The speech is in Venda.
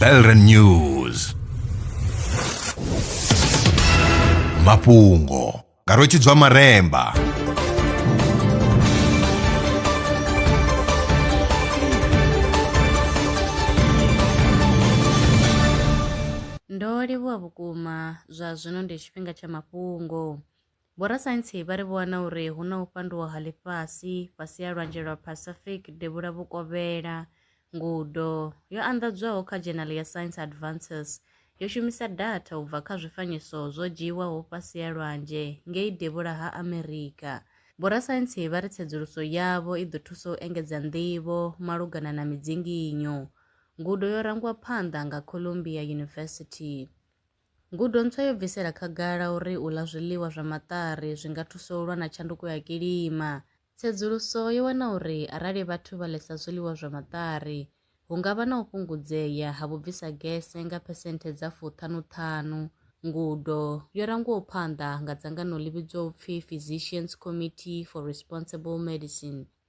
Belren News mafhungo nga rwetshidzwa maremba ndo livhuwa vhukuma zwa zwino ndi tshifhinga tsha mafhungo Vhorasaintsi vha ri vho wana uri hu na u fhanduwa ha ḽifhasi fhasi ha lwanzhe lwa Pacific devhula vhukovhela. Ngudo yo anḓadzwaho kha dzhenali ya Science Advances yo shumisa datha u bva kha zwifanyiso zwo dzhiiwaho fhasi ha lwanzhe ngei devhula ha Amerika. Vhorasaintsi vha ri tsedzuluso yavho i ḓo thusa u engedza nḓivho malugana na midzinginyo. Ngudo yo rangwa phanḓa nga Columbia University. Ngudo ntswa yo bvisela khagala uri u ḽa zwiḽiwa zwa maṱari zwi nga thusa u lwa na tshanduko ya kilima. Tsedzuluso yo wana uri arali vhathu vha ḽesa zwiḽiwa zwa maṱari, hu nga vha na u fhungudzea ha vhubvisa gese nga phesenthe dza fuṱhanu-ṱhanu. Ngudo yo rangwaho phanḓa nga dzangano ḽi vhidzwaho u pfi Physicians Committee for Responsible Medicine,